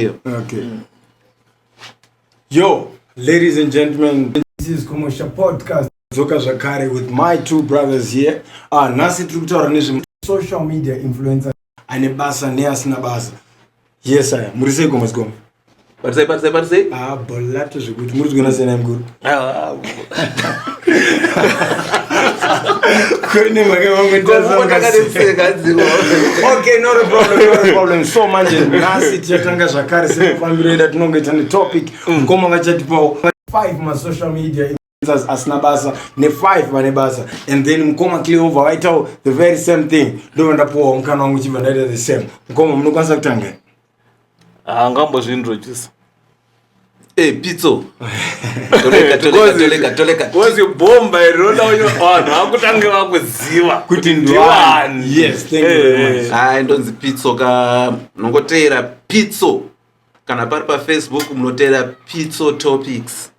ndiyo okay mm. yo ladies and gentlemen this is commercial podcast dzoka zvakare with my two brothers here ah nhasi tiri kutaura nezve social media influencer ane basa neasina basa yes aya muri sei gomazigoma parisei parisei parisei ah bolato zvekuti muri zvigonasiyana mukuru so manje nhasi tichatanga zvakare sekufambiro ida tinonge tane topic mukoma vachatipawo 5 masocial media asina basa ne5 vane basa and then mukoma cleover vaitawo the very same thing ndovandapuwawo mukana wangu chibva ndaita the same mukoma munokwanisa kutanga haangambozvinrochisa ah, Hey, pizzo. Toleka, toleka, toleka, toleka. Because you bomb by Rona uyo vanhu vakutange vakuziva kuti ndiwani. Yes, thank you very much. Hayi ndonzi pizzo ka nongoteera pizzo kana pari paFacebook munoteera pizzo topics.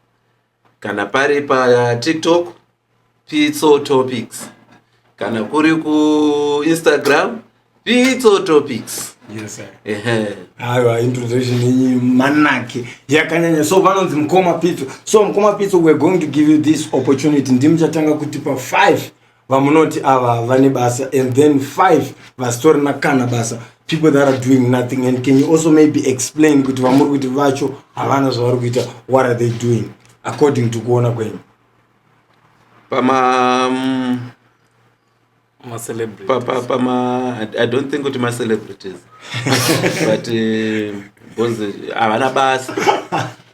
kana pari patiktok pitso topics kana kuri kuinstagram pitso topics aiwa introduction yenyu manake yakanyanya so vanonzi mukoma pitso so mukoma pitso weare going to give you this opportunity ndimuchatanga kutipa five vamunoti ava vane basa and then five vasitorina kana basa people that are doing nothing and can you also maybe explain kuti vamuri kuti vacho havana zvavari kuita what are they doing according to kuona kwenyu pama mm, pama i don't think kuti macelebrities but eh, bcause eh, havana basa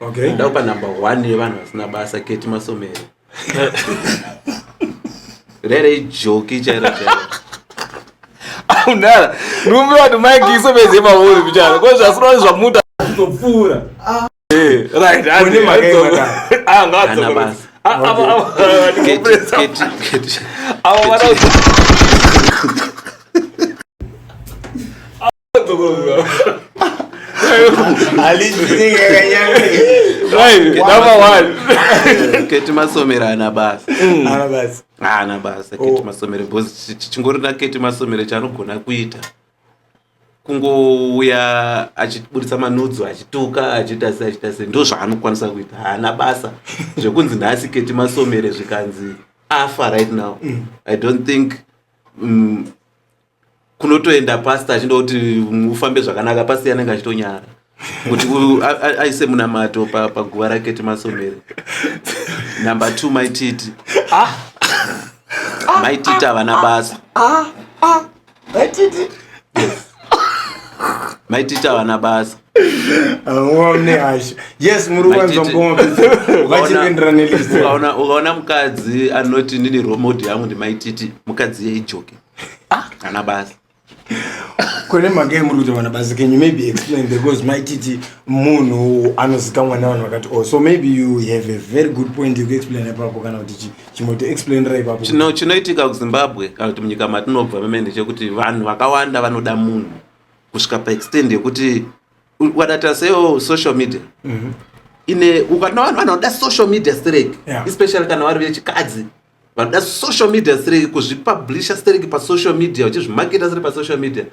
okay. ndakupa number one yevanhu vasina basa keti masomero rere ijoki chairo chairo aunara rume vanhu maikiso veze mauri kuchana ko zvasinoa zvamuta kutopfuura ah. eh, right avo vana keti masomero ana basa mm. ah, ana basa keti oh. masomero bcause chingori na keti masomero chanogona kuita kungouya achiburitsa manudzo achituka achiita se achiita se ndo zvaanokwanisa kuita haana basa zvekunzi nhasi keti masomere zvikanzi afa right now mm. i don't think mm, kunotoenda pastor achinoda kuti ufambe zvakanaka pastor yanenge achitonyara kuti aise munamato paguva rake timasomere number two maititi ah. ah. maititi havana ah. basa maititi maititi havana basa ukaona mukadzi anoti ndini romod yangu ndimaititi mukadzi yeijoki ah kana basi kune magai muri kuti vana basi can you maybe explain because mai titi munhu anozikamwa nevanhu vakati oh so maybe you have a very good point yekuexplain ipapo kana kuti chimoto explainira ipapo chino chinoitika kuzimbabwe kana kuti munyika matinobva meme ndechekuti vanhu vakawanda vanoda munhu kusvika paextend yekuti ukadata seo social media mm -hmm. ine ukana vanhu vanoda social media strek yeah. especially kana vari vechikadzi vanoda social media stereki kuzvipublisha stereki pasocial media vachizvimaketa siri pasocial media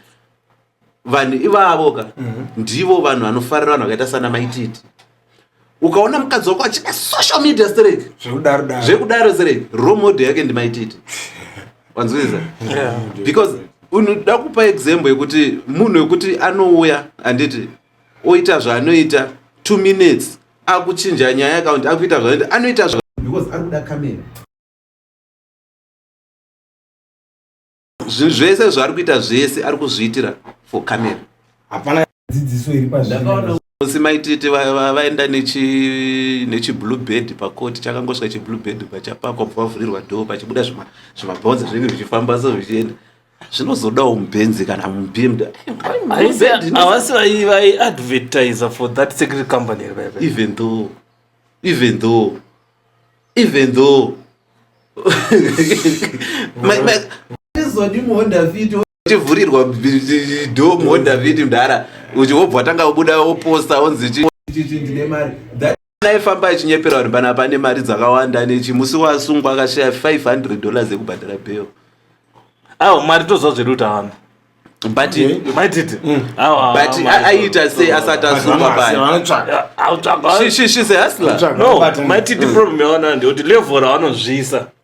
vanhu ivavo ka mhm. ndivo vanhu vanofarira vanhu vakaita sana maititi ukaona mukadzi wako achida social media stereki zvekudaro stereki romodel yake ndimaititi wanzwisa because unoda kupa example yekuti munhu wekuti anouya handiti oita zvaanoita two minutes akuchinja nyaya account akuita zvaanoita anoita zva because ari kuda camera zvinhu zvese zvaari kuita zvese ari kuzviitira for camera hapana dzidziso iri pazvinosi maititi vaenda nechiblue bed pakoti chakangosvika chiblue bed pachapakwa bva vavhurirwa dho pachibuda zvimabhonzo zvinenge zvichifamba so zvichienda zvinozodawo mubenzi kana mubhimda havasi vaiadvertiser for that secret company even though even though even though tivhurirwa do muhonda vhidi mdara uchi wobva tanga kubuda woposta wonzi chi ndine mari aifamba achinyepera vanhu pana pane mari dzakawanda nechi musi wasungwa akashaya 500 dollars ekubhadhara bheo awo mari toziva zviri kuti awanda but maititi mm. but aiita sei asati asungwa payashishisehasla no maititi problem yawana ndiyekuti level ravanozviisa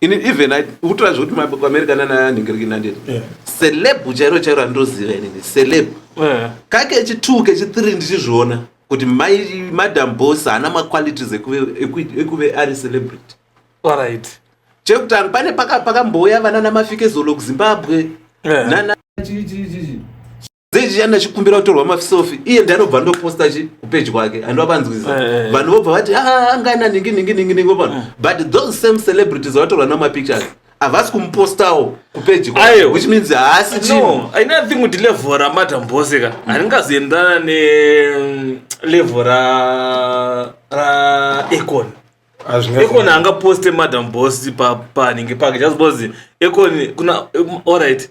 ini even ukutora zvekuti maamerica nananhingiriki nandini yeah. celeb chairo chairo randinoziva inini celeb yeah. kakechi two kechi three ndichizviona kuti madam bos haana maqualities ekuve ari celebrity right. chekutanga pane pakambouya vana namafikezolo kuzimbabwe yeah. nana dzei ndachikumbira kutorwa mafisofi iye ndanobva ndoposta chi kupeji kwake handiva vanzwiza eh, eh, eh. vanhu vobva vati ah, angana ningi ningi ningi ningi vopano but those same celebrities vatorwa namapictures havasi kumupostawo kupeji kwake which means haasi chino i don't think kuti level ramadam bose ka mm. haringazoendana nelevel ra ra econ econ angaposte madam bos panenge pake just because econ kuna um, all right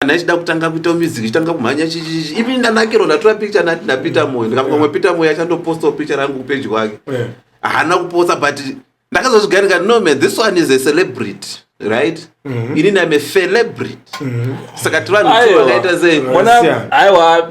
kana ichida kutanga kuita music ichitanga kumhanya chichichi even ndanakiro ndatora picture nati napeter moyo ndikafunga mwe peter moyo achandopostawo picture rangu kupage kwake haana kuposta but ndakazozvigarika no man this one is a celebrity right mm -hmm. ini ndime celebrity mm -hmm. saka tivanhu vakaita sei aiwa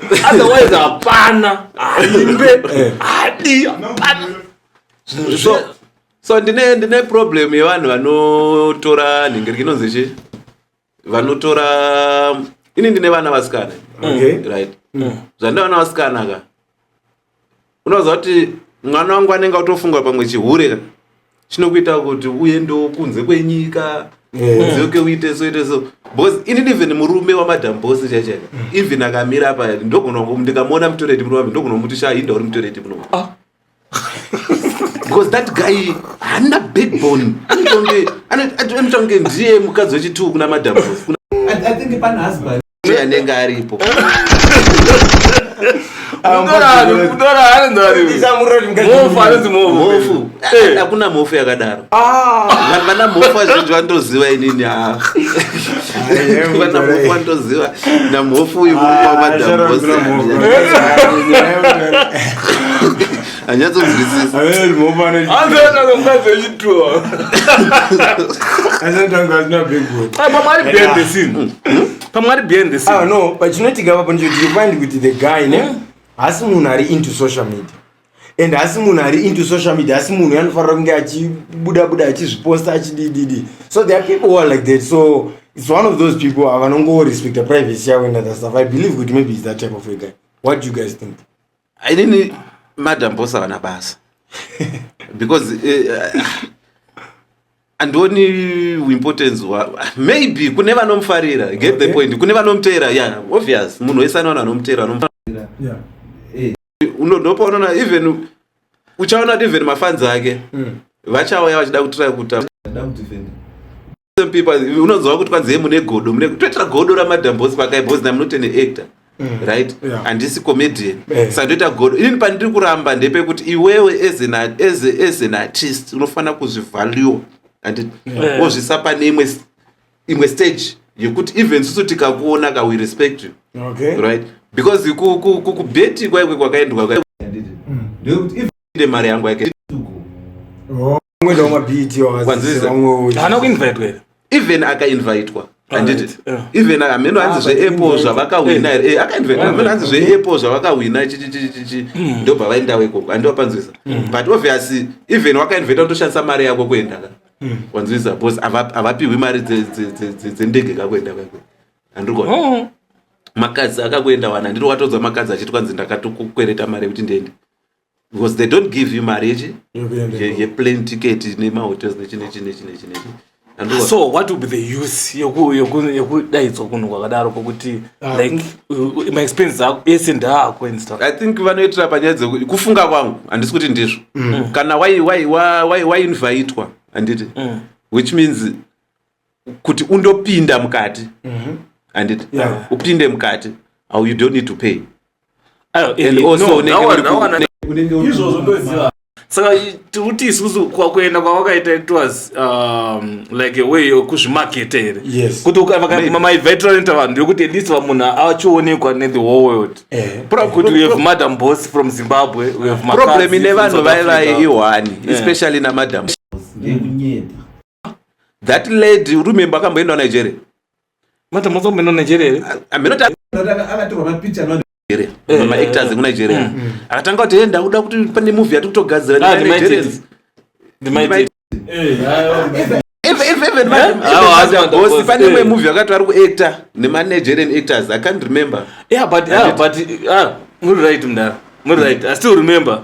otherwise hapana haimbe eh. hadi hapana so, so ndine ndine problem yevanhu vanotora nhingeriki inonzi chi vanotora ini ndine vana vasikana okay. right mm. zvandaona vasikana ka unoziva kuti mwana wangu anenge atofunga pamwe chihure chinokuita kuti uendewo kunze kwenyika uzoke uite so ite so because inini even murume wamadam bos chaichaika mm. even akamira apa ndogona ndikamuona mutoreti murume wake ndogona kumuti shaa inda uri mutoreti muno ah. because that guy haana backbone anotonge ndiye mukadzi wechituku namadam bos i think pana husband kuti anenge aripo hakuna mhofu yakadaro vana mhofu azhinji vandoziva inini vana mhofu vandoziva namhofu uyu mukwamadambosi pachinoitika papo ndichotirifind kuti the guy ne hmm. hasi munhu ari into social media and hasi munhu ari into social media hasi munhu yanofanira kunge achibuda buda achizviposta achidididi so there are people who are like that so it's one of those people avanongorespecta privacy yavo and other stuff i believe kuti maybe is that type of a guy what do you guys think ainini madam boss havana basa because uh, andioni importance maybe kune vanomufarira get okay. the point kune vanomuteera yeah obvious munhu wese anoona anomuteera anomufarira yeah. hey. Eh, unondopaonona even uchaona kuti even mafanzi ake mm. vachauya vachida kutira kuta some people unonzwa kuti kwanzi mune godo mune toitira godo ramadam boss pakai boss na munote ne actor mm. right handisi comedian eh. saka ndoita godo inini pandiri kuramba ndepekuti iwewe as an, as, as an artist unofanira kuzvivalue and eh. wozvisa pane imwe imwe stage yekuti even susu tikakuona ka we respect you okay. right because kubeti kwaikwe kwakaendwa mm. ndekuti even mari yangu yake oh. Mwendo wama beat yo Kwanzisa. azise wamwe haana kuinvitwa here even akainvitwa handiti Alright, yeah. even hameno hanzi Ah, but zveapple invite. zvavakahwina here Eh, akainvitwa hameno hanzi zveapple zvavakahwina chi- chi- chi- chi- chi. ndobva vaendawo ikoko handiwa panzwisa but obviously even wakainvita kutoshandisa mari yako kuenda ka wanzwisa bcause hava- havapihwi mari dze- dze- dze- dze- dzendege kakuenda kako handirikona Oh. makadzi akakuenda wana ndiri watodza makadzi achiti kwanzi ndakatukwereta mari yekuti ndiende because they don't give you mari yechi yeplane ticket nemahotels nechinechinechinechinechinechin so what would be the use yekudaidzwa kunhu kwakadaro kwokuti ah, like maexpenses ako ese ndaako and stuff i think vanoitira panyaya dzekuti kufunga kwangu handisi kuti ndizvo mm. kana wainvhaitwa handiti mm. which means kuti undopinda mukati mhm. andit upinde mukati au you don't need to pay saka tikuti isusu kwakuenda kwavakaita it was um, like a way yokuzvimaketa here kuti maivetralenta vanhu yokuti at least vamunhu achionekwa nethe whole world eh. kuti we have madam boss from zimbabwe we have problem ine vanhu vaivaye ihwani eh. especially namadam ndekunyeta that lady uri remember akamboenda Nigeria mata mozo meno Nigeria here ameno ta akatorwa mapicha anwa Nigeria eh, mama eh, actors eh. ku Nigeria mm, mm. akatanga kuti enda kuda kuti pane movie yati kutogadzira na ah, Nigerians the might even manje pane imwe movie yakati vari kuactor nema Nigerian actors i can't remember yeah but yeah but ah muri right mdara muri right i still remember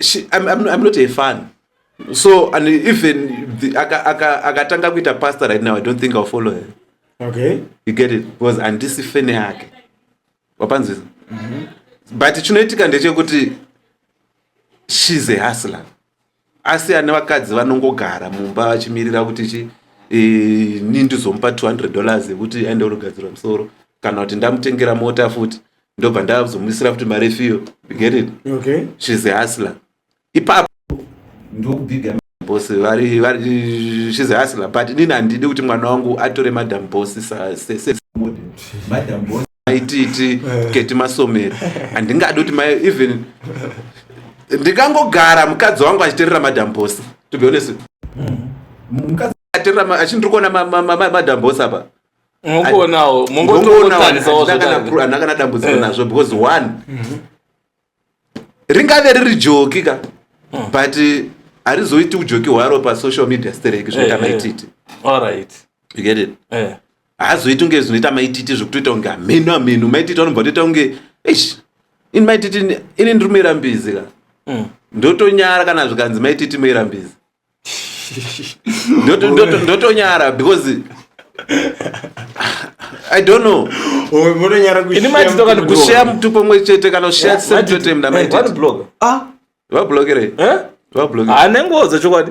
she, I'm, I'm, I'm not a fan so and even akatanga kuita pastor right now i don't think i'll follow her okay you get it because handisi fene yake wapanzwisa mm -hmm. but chinoitika ndechekuti she's a hustler asi ane vakadzi vanongogara mumba vachimirira kuti chi e, ni ndizomupa 200 dollars yekuti aende kunogadzirwa musoro kana kuti ndamutengera mota futi ndobva ndazomuisira futi mari efiyo get it okay she's a hustler ipapo ndokubhiga boss vari vari she's a hustler but nini handidi kuti mwana wangu atore madam boss sa se, se, madam boss aititi eh. keti masomero handingadi kuti mai even ndikangogara mukadzi wangu achiterera madam boss to be honest mm-hmm. mukadzi achiterera achindiri kuona madam boss apa mongoonawo mongototandisawoandakana dambudziko eh. nazvo because one mhm. ringave riri joki ka hmm. but harizoiti ujoki hwaro pasocial media stereki zvinoita eh, eh. maititi allright you get it haazoiti kunge zvinoita maititi zvekutoita kunge hameno hameno maititi anobva toita kunge ish ini maititi ini ndiri muirambizi ka hmm. ndotonyara kana zvikanzi maititi muirambizi ndotonyara because i don't know ini maiti tokati kusheya mutupo mwe chete kana kusheya tisemtotemda maitibloga ah. vablogerei eh? vabloge ane ngoza chokwadi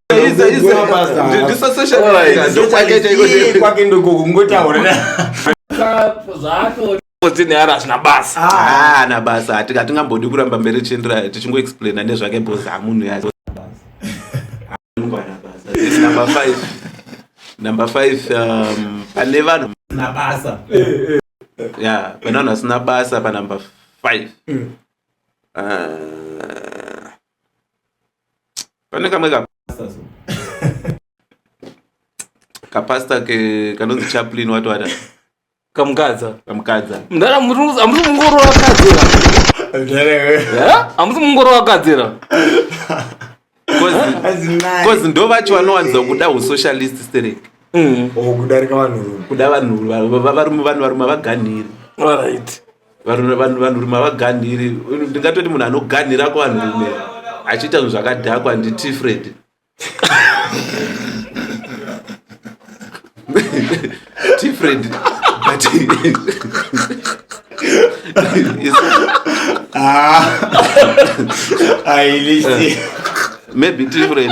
kwake ndoko kungotaura zvaatoneara hazvina basa ah. ana basa hatingambodi kuramba mberi tichienderaya tichingoexplaina nezvake bhozi amunhu ya number five number five um, pane vanhu na basa eh, eh. ya pane vanhu vasina basa panumber five mm. uh, pane kamwe kapasta so kapasta ke kanonzi chaplin watowata kamukadza kamukadza mdara amusi mungoro wakadzira amusi mungoro wakadzira bcause ndo vacho vanowanza kuda usocialist sterek mm. oh, kudarika vanhurume kuda vanhurume varume vanhu varume vaganhiri vanhurume havaganhiri ndingatoti munhu anoganhira kuvanhurume achiita zvinhu zvakadhakwa nditi fred tifred but ah. maybe tifred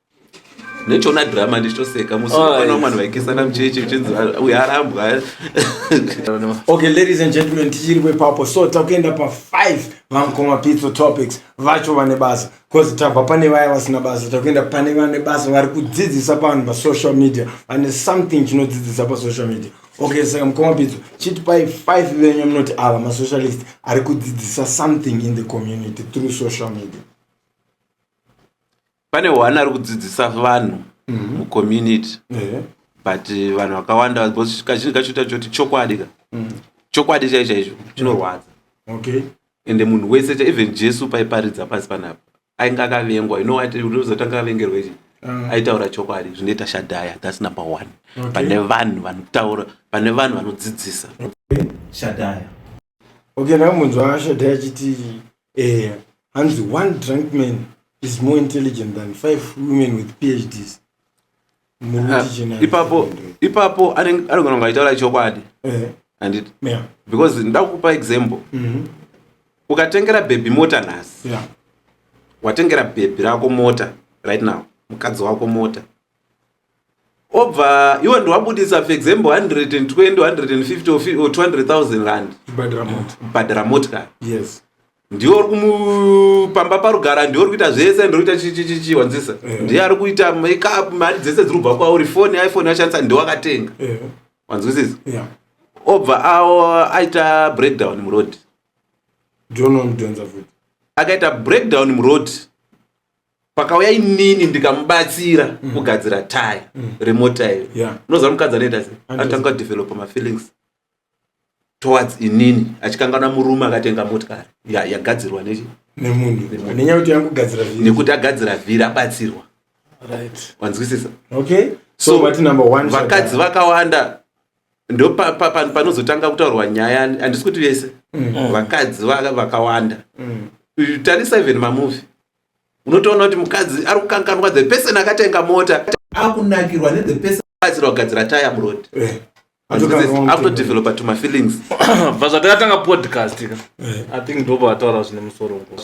nechoona drama ndichitoseka musipano mwana vaikisana mucheche uchinzi uyu arambwa okay ladies and gentlemen tichiri kwepapo so takuenda pa 5 vamkoma pizzo topics vacho vane basa bcause tabva pane vaya vasina basa takuenda pane vane basa vari kudzidzisa pavanhu pasocial media vane something chinodzidzisa pasocial media okay saka mkoma pizzo chitipai 5 venyu munoti ava masocialist ari kudzidzisa something in the community through social media pane one ari kudzidzisa vanhu mhm. mucommunity but eh, vanhu vakawanda because kazhinji kacho ita choti chokwadi ka mhm. chokwadi chai chaicho chinorwadza okay ende munhu wese cha even jesu paiparidza pasi panapa ainge akavengwa you know what unozotanga avengerwa ichi ah. aitaura chokwadi zvinoita shadhaya thats number one pane vanhu vanotaura pane vanhu vanodzidzisa shadhaya okay ndamunzwa shadha achiti eh, hanzi one drunk man is more intelligent than five women with phds Ah, ipapo ipapo anogona kunge achitaura chokwadi eh. anditi because nda kukupa example mhm. ukatengera bhebhi mota nhasi watengera bhebhi rako mota right now mukadzi wako mota obva iwe ndiwabudisa for example 120 150 or 200000 rand bhadhara motikari yes ndiwo uri kumupamba parugara ndiwo uri kuita zvese ndiri kuita chichichichi wanzisa eh. ndiye ari kuita makeup mari dzese dziri kubva kwauri foni iphone yashandisa ndiwo akatenga eh. wanzwisisa obva awo aita breakdown muroad akaita breakdown muroad pakauya inini ndikamubatsira mm. kugadzira tai mm. remota iyo yeah. unoziva mukadzi anoita se atanga kudevelopa mafeelings towards inini achikanganwa murume akatenga motikari yagadzirwa ya nechi nekuti agadzira vhiri abatsirwa wanzwisisa okay. so, so vakadzi vakawanda ndo panozotanga pa, pa, kutaurwa nyaya handisi kuti vese mm. vakadzi vakawanda mm. tarisa even mamuvi unotoona kuti mukadzi ari kukanganwa the person akatenga mota akunakirwa ne the person akatsira kugadzira taya muroad eh, akutodevelopa to my feelings bva zvatakatanga podcast ka eh. i think ndoba ataura zvine musoro mukuru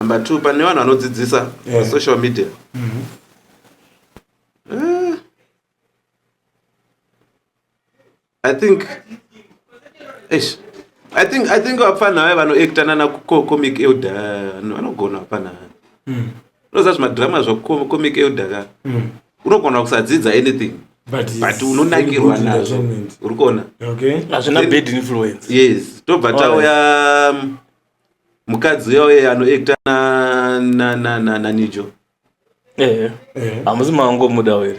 number two pane vanhu vanodzidzisa yeah. social media mm -hmm. uh, i think ish i think i think vapfanha vaye vanoacta nana comic elder vanogona vapfanha mm. unoziva zvimadrama zvacomic elder ka mm. unogona kusadzidza anything but unonakirwa nazvo uri kuona hazvina bad influence yes tobva tauya um, mukadzi uya uye anoekta nanijo hamusi mangomuda here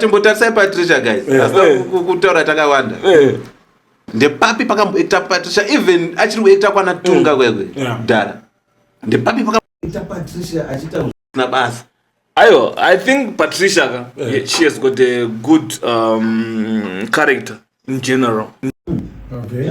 chimbotarisai patricia guys kutaura takawanda ndepapi pakamboekta patricia even achiri kuekta kwana tunga kwekwe dhara ndepapi pakaita patricia achiita na basa ayo i think patricia ka yeah. she has got a good um, character in general okay.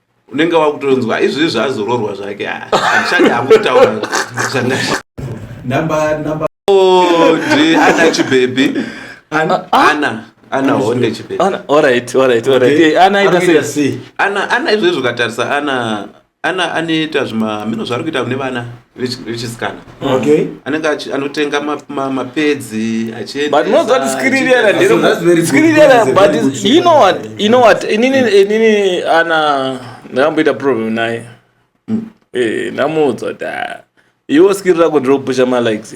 unenge wakutonzwa izvozvi zvazororwa zvake ah, andishandi akutaura zvanga oh, ana chibebi ana ah, ana honde chibebi ana alright alright alright okay. ana aita sei ana ana izvozvi ukatarisa ana ana anoita zvima mino zvaari kuita kune vana richisikana okay anenge anotenga mapedzi achiendeaskiririanainini ana ndakamboita problem naye hmm. eh, ndamuudza kuti ah, iwo skiri rako ndiri kupusha malikes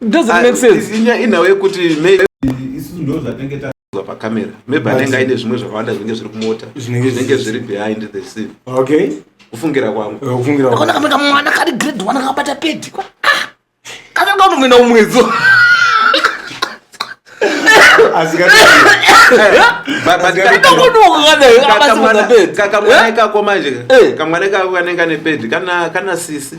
doesn't ah, make sense inya inhawo yekuti maybe isusu ndo zvatenge tazwa pacamera maybe anenge aine zvimwe zvakawanda zvinenge zviri kumota zvinenge zviri behind the scene okay kufungira kwangu eh, kufungira kwangu kana kamera mwana kari grade 1 kakabata pedi kwa ah! kana kana unoenda umwedzo kakamwana ikako manje kamwana ikako kanenge ane pedi kana kana sisi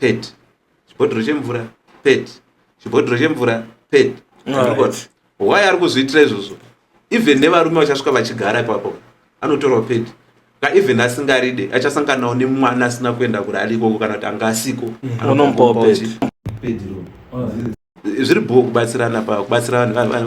pet chibhodhoro chemvura pet chibhodhoro chemvura pet why ari kuzviitira izvozvo even nevarume vachasvika vachigara ipapo anotorwa pedi ka even asingaride achasanganawo nemwana asina kuenda kuri ari ikoko kana kuti anga asiko zviri bho kubatsirana pa kubatsira vanhu vanhu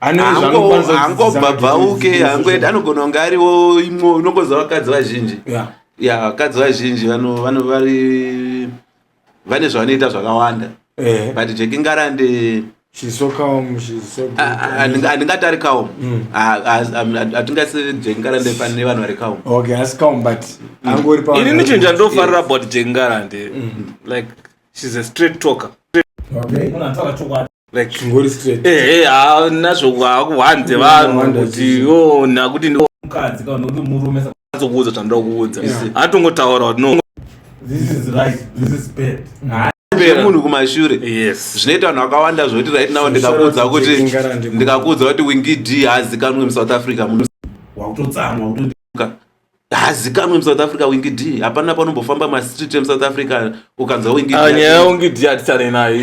angobvabvauke hangoenda anogona kunge ariwo imwo unongoziva vakadzi vazhinji ya vakadzi vazhinji vano vari vane zvavanoita zvakawanda eh. but jekingarande handingatari kaum hatingasi jekingarande pane vanhu vari kauminini nicho chandofarira about jekingarande mm. like shes a straight talker like ngori straight eh eh ah, nazvo kwakuhwanze vanhu Wonder kuti zii. yo nakuti ndo mukadzi kana kuti murume sa- azokuudza zvandoda kuudza Yeah. atongotaura kuti no this is right this is bad Hayi, Zvine munhu kumashure yes zvinoita vanhu vakawanda zvekuti right now ndikakuudza Sure, kuti ndinogara ndi- ndikakuudza kuti wingi d haazikanwe musouth africa munhu wakutotsamwa wakutoti haazikanwe musouth africa wingi d hapana panombofamba mastreet emusouth africa ukanzwa wingidnyaya ah, wingi d hatitane nayo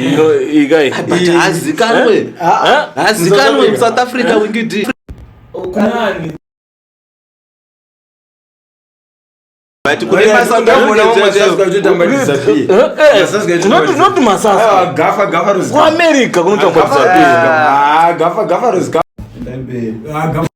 but haazikanwe eh? ah, haazikanwe ah. musouth africa eh? wingi d but kune masakuamerica kunotambwa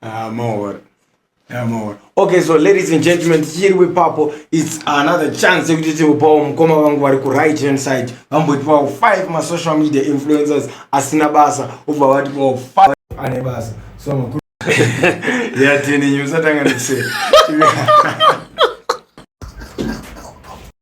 Ah, more. Yeah, more. Okay, so ladies and gentlemen, here we papo. It's another chance to get to Paul Mkoma wangu wari ku right hand side. Vambo ipo five ma social media influencers asina basa. Uva wati po five ane basa. So makuru. Yeah, tini nyusa tanga ndise.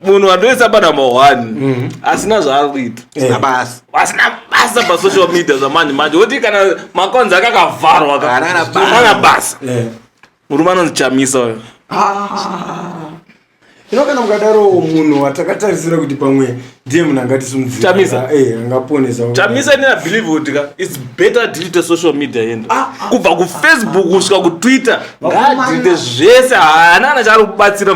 munhu andoisa panamba one mhm. asina zvaari kuita eh. asina basa pasocial media zvamanje manje woti kana makonzi ake akavharwa kana basa eh. murume anonzi chamisa uyo ah. ino kana mukadaro munhu watakatarisira kuti pamwe ndiye munhu angatisumudzirachamisa eh, ini abelieve kuti ka its better delete social media yenda ah, ah, kubva kufacebook kusvika kutwitter ngaadzidze zvese haana kana chaari kubatsira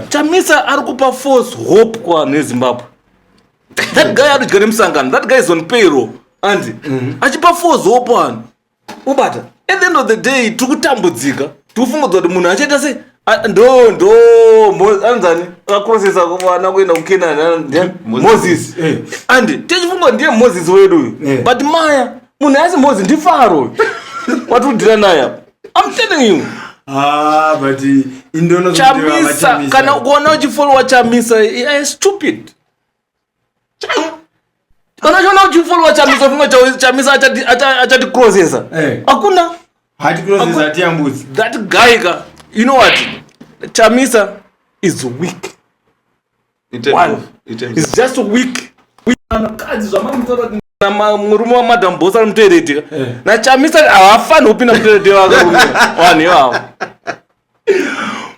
chamisa ari kupa force hope kuvanhu vezimbabwe that guy adodya nemusangano that guy is on payroll andi mhm. achipa force hope vanhu ubata at the end of the day tiri kutambudzika tofungudza kuti munhu achaita se a- ndo ndo Mo- anzani akakurosesa vana kuenda kukenani ana- ndiani? Moses. moses Eh. and tichifunga kuti ndiye moses wedu uyu Eh. but maya munhu asi moses ndifaro uyu watudira naye apa i'm telling you Ah, but indono chamisa kana ukaona uchifollowa chamisa eh, stupid Unachoona uchifollowa Chamisa funga Chamisa achati achati crossesa. Eh. Hakuna. Hati crossesa hati yambudzi. That guy ka. You know what? Chamisa is weak. One. It's just weak. Vakadzi zvamamutora na murume wa madam boss ari mutoeredika. Eh. Na Chamisa havafanirwi kupinda mutoeredika vakarume. Vanhu ivavo.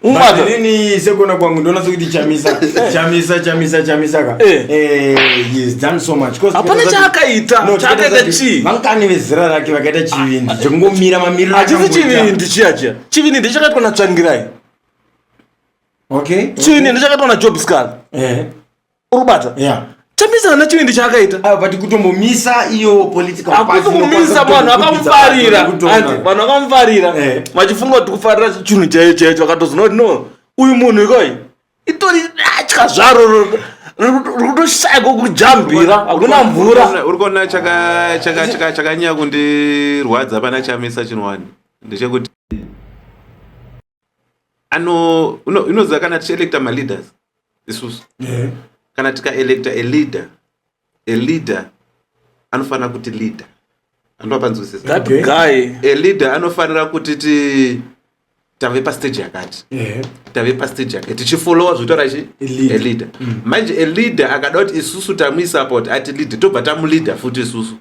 umaini sekuona kwangu ndoona sokuti chamisa chamisa chamisa chamisa ka eh. eh, yes done so much hapana chaakaita chaakaita chii vangani vezera rake vakaita chivindi chekungomira mamiriro achisi chivindi chiya chiya chivindi ndichakaitwa natsvangirai okay chivindi ndichakaitwa najobscar eh. urubata yeah chamisa hana chivindi chaakaita ah, but kutombomisa iyo political akuti kumisa vanhu vakamufarira vanhu vakamufarira eh. vachifunga kuti kufarira chinhu chaiyo chaiyo chakatozoona kuti no uyu munhu ikoi itori atya zvaro rikutoshaya kokujambira hakuna mvura uri kuona chakanyanya kundirwadza pana chamisa chinhu wani ndechekuti ano unoziva kana tichielecta maleaders isusu yeah. kana tikaelecta a leader a leader anofanira kuti leader andopanzwisisathat guy a leader anofanira kuti ti tave pastage yakati yeah. tave pastage yakati tichifollowa zvotaura chi a leader mm. manje a leader akada kuti isusu tamuisupport ati leader tobva tamuleader futi isusu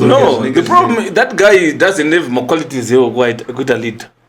no the problem that guy doesn't have maqualities ekuita leader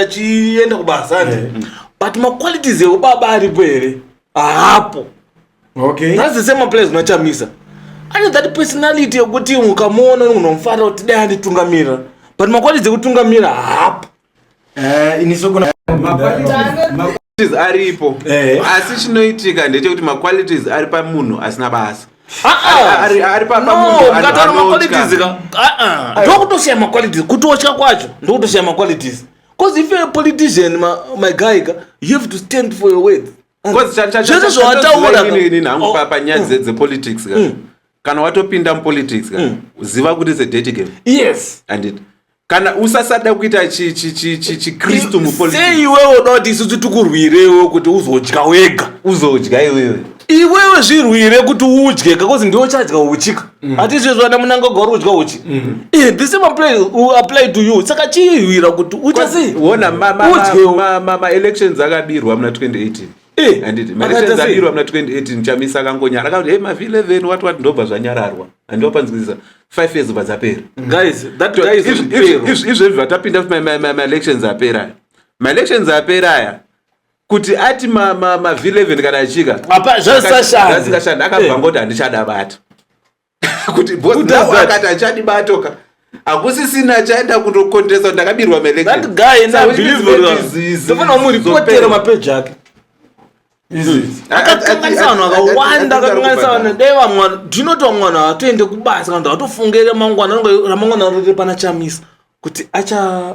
achienda kubasa ande eh. but maqualities eubaba aripo here haapo okay that's the same place unachamisa ane that personality yekuti ukamuona unomufarira kuti dai anditungamira but makwalidzi ekutungamira hapo eh, aripo eh. asi chinoitika ndechekuti maqualities ari pamunhu asina basa ndokutosiya maqualities kutotya kwacho ndokutosiya maqualities bcause if you're a politician my, my guy you have to stand for your words zvese zvawataurapanyaya dzepolitics kana watopinda mupolitics mm. ziva kuti it's a dirty game yes and it kana usasada kuita chikristu mupolitisi iwewe unoda kuti isusu tikurwirewo kuti uzodya wega uzodya iwewe iwewe zvirwire kuti udye because ndiwe uchadya uchika mm. hatizvezvo ana munangagwa uri udya uchi mm. eh, this same apply, uh, apply to you saka chihwira kuti uchasiona maelections akabirwa muna 2018 Eh, handiti maresenzi adirwa muna 28 ndichamisa akangonyara akati hey mavi 11 wati wati ndobva zvanyararwa handiwa panzwisisa five years bva dzapera izvezvi vatapinda kuti maelections apera aya maelections apera aya kuti ati mavi 11 kana achika zvasingashandi akabva eh. ngoti handichada bata kuti boss now akati achadi batoka hakusisina achaenda kundokondesa ndakabirwa melekndofana umuripotera mapeji ake akakanganisa vanhu vakawanda akakanganisa vanhu dai vamwana tinoti vamwana hatoende kubasa kana kuti hatofunge ramangwana ramangwana riri pana chamisa kuti acha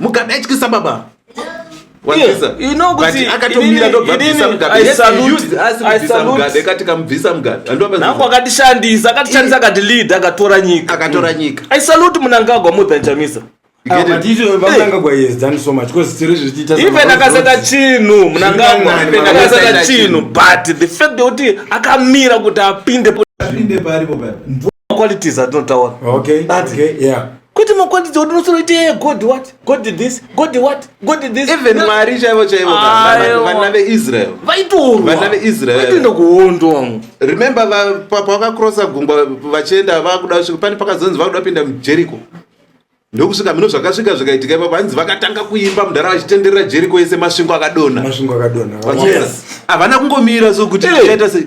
mugabe aityisa baba nangu akatishandisa akatishandisa akati lead akatora nyika akatora nyika i salute munangagwa more than chamisa even akasata chinhu munangagwa akasata chinhu but the fact yekuti akamira kuti apinde qualities atinotaura okay, okay, yeah. kwete makwanditi kuti unosoro ite eh, god what god did this god did what god did this even mwari chaivo chaivo vana veisrael vaitorvana veisrael vaitoenda kuhondo remember pavakakrosa gungwa vachienda vakuda kusvika pane pakazonzi vakuda kupinda mujericho ndokusvika mino zvakasvika zvikaitika ipapo hanzi vakatanga kuimba mudhara vachitenderera jeriko yese masvingo akadonha masvingo akadonha havana kungomira so kuti aita sei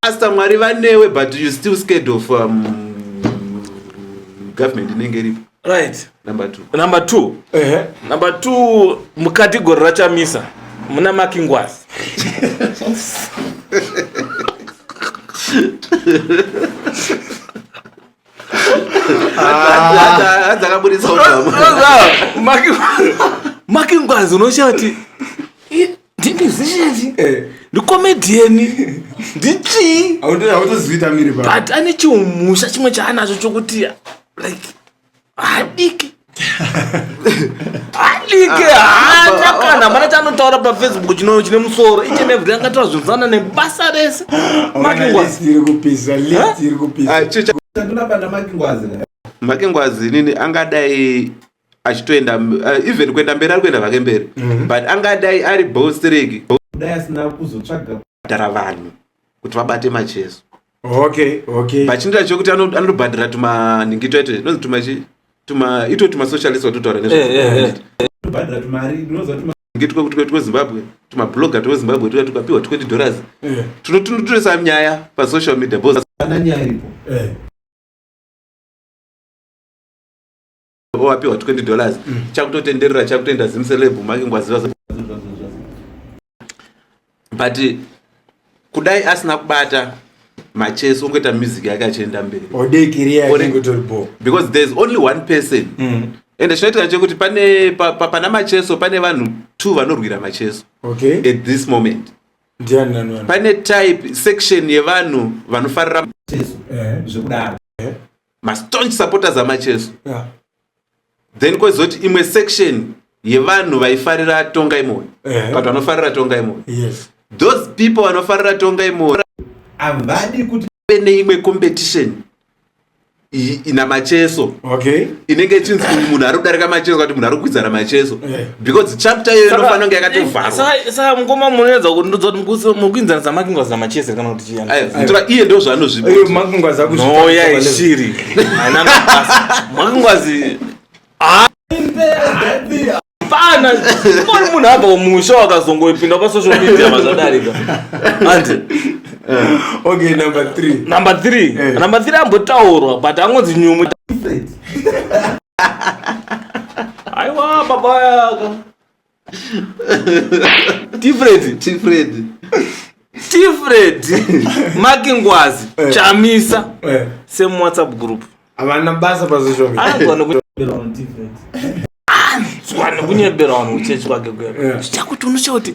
Pastor Mwari vanewe but you still scared of um, government inenge iripo. Right. Number 2. Number 2. Uh -huh. Number 2 mukategori rachamisa muna makingwazi. Maki ngwazi unoshati ndinizii eh. ndikomedheni ndichii but ane chiumusha chimwe chaanacho chokuti like hadiki hadiki ah, haana ah, kana mana chanotaura pafacebook chino chine musoro iche nevhuri angataura zvinzana nebasa rese makingwazi makingwazi nini angadai achitoenda uh, even kuenda mberi ari kuenda vake mberi mm -hmm. but angadai ari bostereki dai asina kuzotsvaga kudhara vanhu kuti vabate macheso okay okay vachindira chokuti anobhandira tumaningito aito inonzi tuma chi tuma ito tuma socialist watotaura nezvo eh, eh, eh. tobhandira tumari unoziva tuma ngitwa kuti kwetu kwezimbabwe tumabloga twezimbabwe tuya tukapiwa 20 dollars tunotunototesa nyaya pasocial media bosana nyaya iripo wapiwa 20 dollars mm. chakutotenderera chakutoenda zimselebhu make ngwaziva but kudai asina kubata machesi ongoita music yake achienda mberi because thereis only one person mm. ende chinoitika chekuti pane pa, pa, pana macheso pane vanhu two vanorwira macheso okay. at this moment pane type section yevanhu vanofarira macheso eh. zvekudaro mastaunch supporters amacheso yeah. then kwezoti imwe section yevanhu vaifarira tonga imoyo yeah. but vanofarira tonga imoyo yes. those people vanofarira tonga imoyo havadi kuti ve neimwe competition ina macheso okay. inenge ichinzi munhu ari kudarika macheso kati munhu ari kukwidzana macheso yeah. because chapter iyoyo inofanira kunge yakatovharwasaka mukoma munoedza kuti ndodza kuti mukuinzanisa makingwazi namachese kana kuti chiyanditora iye ndo zvaanozvimakingwazi akunoya ishiri haina mabasa makingwazi pana mori munhu abva kumusha wakazongoipinda pasocial media mazvadarika andi okay number three number three eh. number three ambotaurwa but angonzi nyumu aiwa baba yaka tifred tifred tifred makingwazi eh. chamisa eh. same whatsapp group havana basa pazvizvo zvanhu kunyebera vanhu kuchechi kwake kuya zvichakuti unocha kuti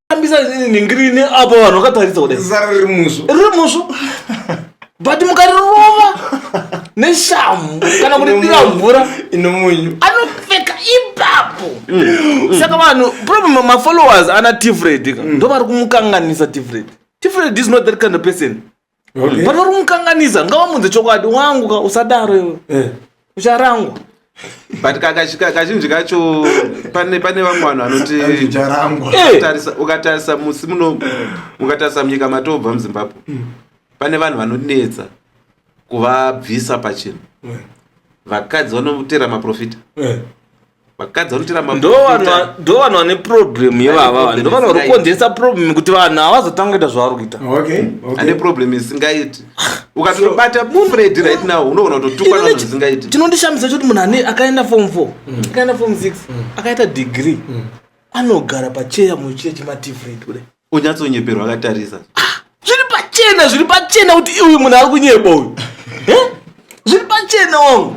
tambisa ningirine apo vanhu vakatarisa kudai zara riri musvo riri musvo but mukarirova neshamhu kana kuti dira mvura inomunyu anopfeka ipapo mm. saka vanhu problem mafollowers ana tifred ka mm. ndo vari kumukanganisa tifred tifred is not that kind of person okay. but vari kumukanganisa ngavamunze chokwadi wangu ka usadaro iwe eh. ucharangwa but kazhinji kacho pane vamwe vanhu vanotiukatarisa eh. musi muno ukatarisa munyika matobva muzimbabwe hmm. pane vanhu vanonetsa kuvabvisa pachinhu eh. vakadzi vanotera maprofita vakadzi vanotiramba ndo vanhu vane problem yevava ndo vanhu vari kukonzeresa problem kuti vanhu havazotanga kuita zvavari kuita ane problem isingaiti ukatobata mumhu redi right now unoona kutotukwa nanhu zvisingaiti chinondishamisa choti munhu ane akaenda form four mm. akaenda form six mm. akaita degree mm. anogara pacheya muchiya chemativrate kudai onyatsonyeperwa akatarisa ah, zviri pachena zviri pachena kuti iuyu munhu ari kunyeba uyu eh? zviri pachena wangu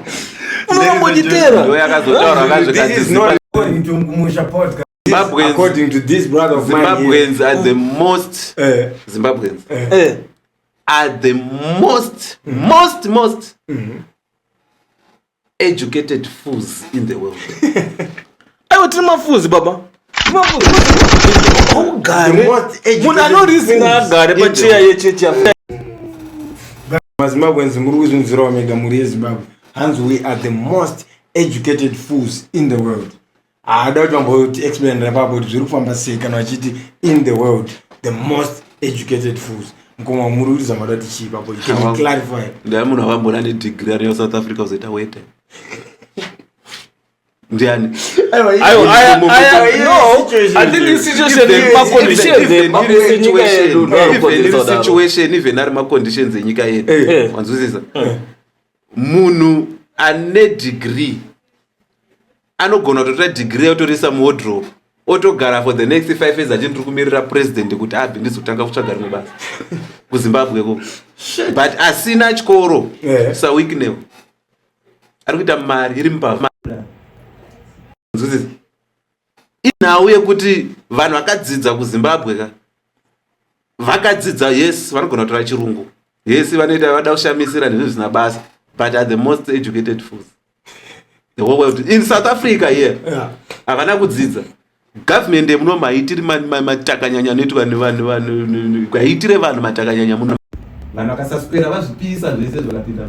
unombotiterazimbabweans are the most eh. zimbabweans eh. Eh. are the most mm. most most mm-hmm. educated fools in the world aiwa tiri mafuzi baba haugare munhu anorizina agare pacheya yechechi mazimbabweans muri kuzvinzirawo mega mhuri yezimbabwe hanzi we are the most educated fools in the world haada kuti vamboti explain repapo kuti zviri kufamba sei kana vachiti in the world the most educated fools mkoma muri kuridza mada tichii papo can you clarify ndaya munhu avambona ne degree ari yo south africa uzoita wete ndiani situation even ari maconditions enyika yedu eh. eh. wanzwisisa eh. munhu ane degree anogona kutotora degree yotoriisa muwodrop otogara for the next five years achii ndiri kumirira president kuti abve ndizotanga kutsvaga rimwe basa kuzimbabwe ko but asina chikoro yeah. sawiknew ari kuita mari iri mupava inhau yekuti vanhu vakadzidza kuzimbabwe ka vakadzidza yes vanogona kutora chirungu yes vanoita vada kushamisira nezvinhu zvisina basa but are the most educated fools the whole world in south africa here havana yeah. kudzidza government yemuno maitiri matakanyanya anoitwa nevanhu kwaitire vanhu matakanyanya muno vanhu vakasaswera vazvipisa zvese zvakapinda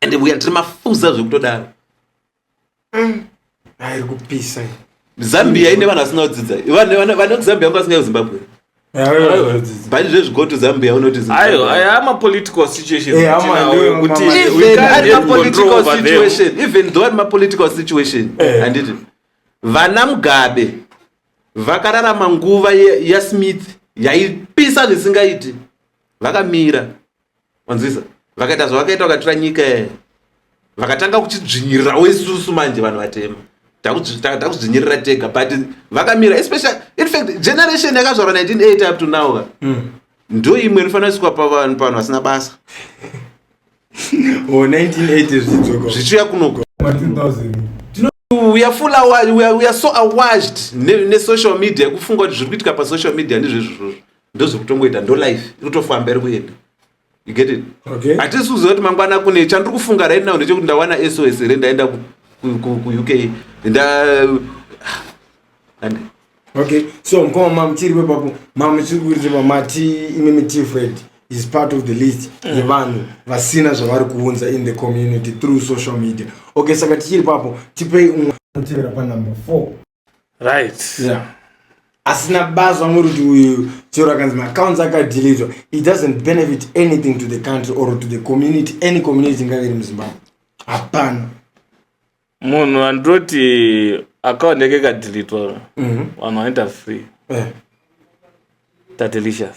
ende vuya tiri mafuza zvekutodaro mm. airi kupisa zambia ine vanhu vasina kudzidza vane kuzambia vangu vasingayo zimbabwe but zvezvi go to zambia unoti amapolitical situationkuti even though ari mapolitical situation eh. handiti vana mugabe vakararama nguva yasmith yaipisa zvisingaiti vakamira wanzwisa vakaita zvavakaita vakatora nyika yayo vakatanga kuchidzvinyirirawo isusu manje vanhu vatema takudzvinyirira tega but vakamira especially infact generation yakazvarwa 1980 up to now ka mm. ndo imwe inofanira sikwa pavanhu pavanhu vasina basa oh, zvichiuya kunoko we are full awashed, we are, we are so awashed ne, ne social media kufunga kuti zviri kuitika pasocial media ndizvezvozvozvo ndozvekutongoita ndo life irikutofamba iri kuenda you get it okay hatisi kuziva kuti mangwana kune chandiri kufunga right now ndechekuti ndawana sos here ndaenda kuuk nda okay so mkoma mamuchiri wepapo mamuchiri kuita pamati imi mitifred is part of the list mm. yevanhu vasina zvavari kuunza in the community through social media okay saka tichiri papo tipei umwe anotevera panumber four right yeah asina basa muruti uyu chero akanzi maaccounts akadeletwa it doesn't benefit anything to the country or to the community any community ingave iri muzimbabwe hapana munhu andoti account yake ikadeletwa mhm. vanhu vanoita free eh. tatelicious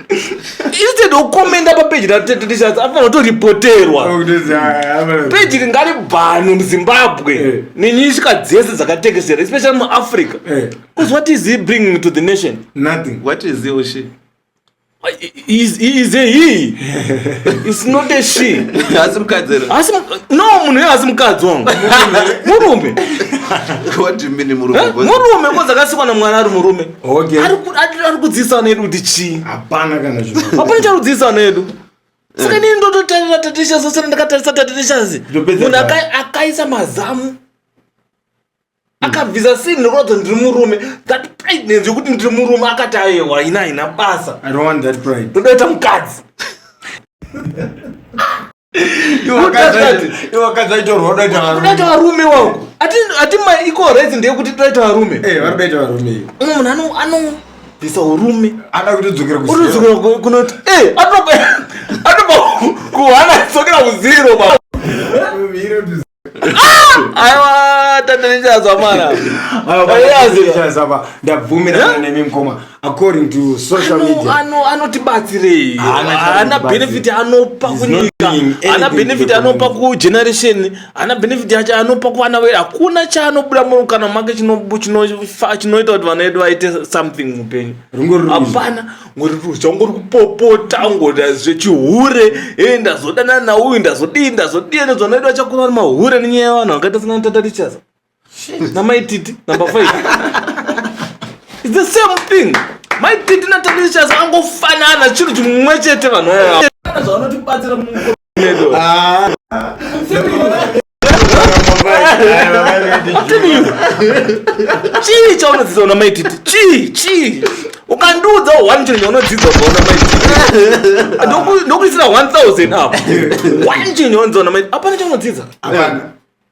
instead okomenda papeji ratetetishazi afanira kutoripoterwa peji ringari bhano muzimbabwe eh. nenyishika dzese dzakatekeshera especially muafrica bcause eh. what is he bringing to the nation nothing what is he or she is, is a he is not a she asi mukadzi no munhu ye asi mukadzi wangu murume murume kodzakasikwa namwana ari murume okay ari ku- ari- ari kudzidzisa nedu kuti chii hapana kana zvino hapana charudzidzisa nedu saka nini ndototarira taticha zose ndakatarisa tatichasi Ndopedza munhu data. aka- akaisa mazamu akabvisa sini nekuratidza kuti ndiri murume that pridness yekuti ndiri murume akati ayewa ina haina basa i don't want that pride ndotoita mukadzi iwakadzaitorodatoita varume wangu ati maequal rights ndeyekuti toita varume eh, varikutoita varume iyo umwe munhu anobvisa urume ada kutodzokera kutodzokera kunoti eh, atoba kuhana dzokera kuziro aiwa tatanichazwa mwana ndabvumirana nemi mkoma according to social media anotibatsirei haana benefit anopa kunyika haana benefit anopa kugeneration haana benefit yacho anopa kuvana vedu hakuna chaanobuda muno kana make chinoita kuti vana vedu vaite something mupenyu hapana ngori ruzha ngori kupopota ngoda zvechihure e eh, ndazodana nauyu ndazodii ndazodii nezvanoitwa chakura mahure nenyaya yevanhu vakaita sina tata richasa namaititi number five its the same thing maititi natata richasa angofanana chinhu chimwe chete vanhu aa Ah. chii chaunodzidza una maititi chii chii ukandiudza one chinhu chaunodzidza ubva una maititi ndokuisira 1000 apo one chinhu chaunodzidza una maititi apana chaunodzidza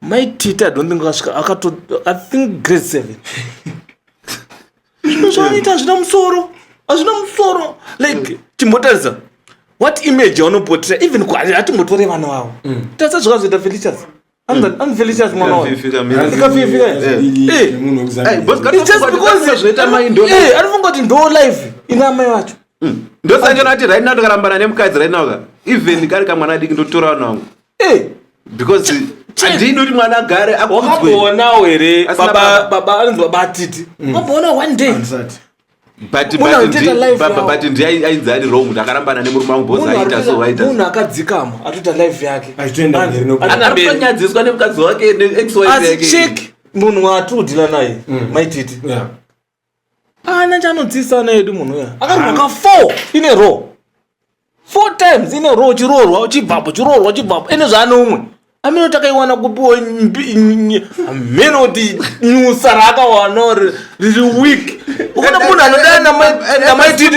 mai tita don't think akasvika akato i think grade seven zvinhu zvaanoita hazvina musoro hazvina musoro like timbotarisa what image yaunopotera even hatimbotore vana vavo mm. tarisa zvakazoita felicias anfelicias mwana waoanofunga kuti ndo live ina amai vacho mm. ndosanjona ati right now ndikarambana nemukadzi right now ka even kari kamwana adiki ndotora vana vangu hey. because handidi kuti mwana agare akuzwewakamboonawo here baba anonzi baba atiti mm. wamboonawo one day but ndi ainzi ari wrong kuti akarambana nemurume wangu bos aita so aita munhu akadzikama atoita life yake anonyadziswa nemukadzi wake neex wife yake munhu waatiri kudhila naye mm. maititi Ana chanotsisa ana edu munhu uya. Akaroka 4 in a row. 4 times in a row chirorwa uchibvapo chirorwa uchibvapo ene zvaane umwe. Ameno takaiwana kupiwa ameno kuti nyusa raakawana or riri weak. Ukona munhu anodana na mai titi.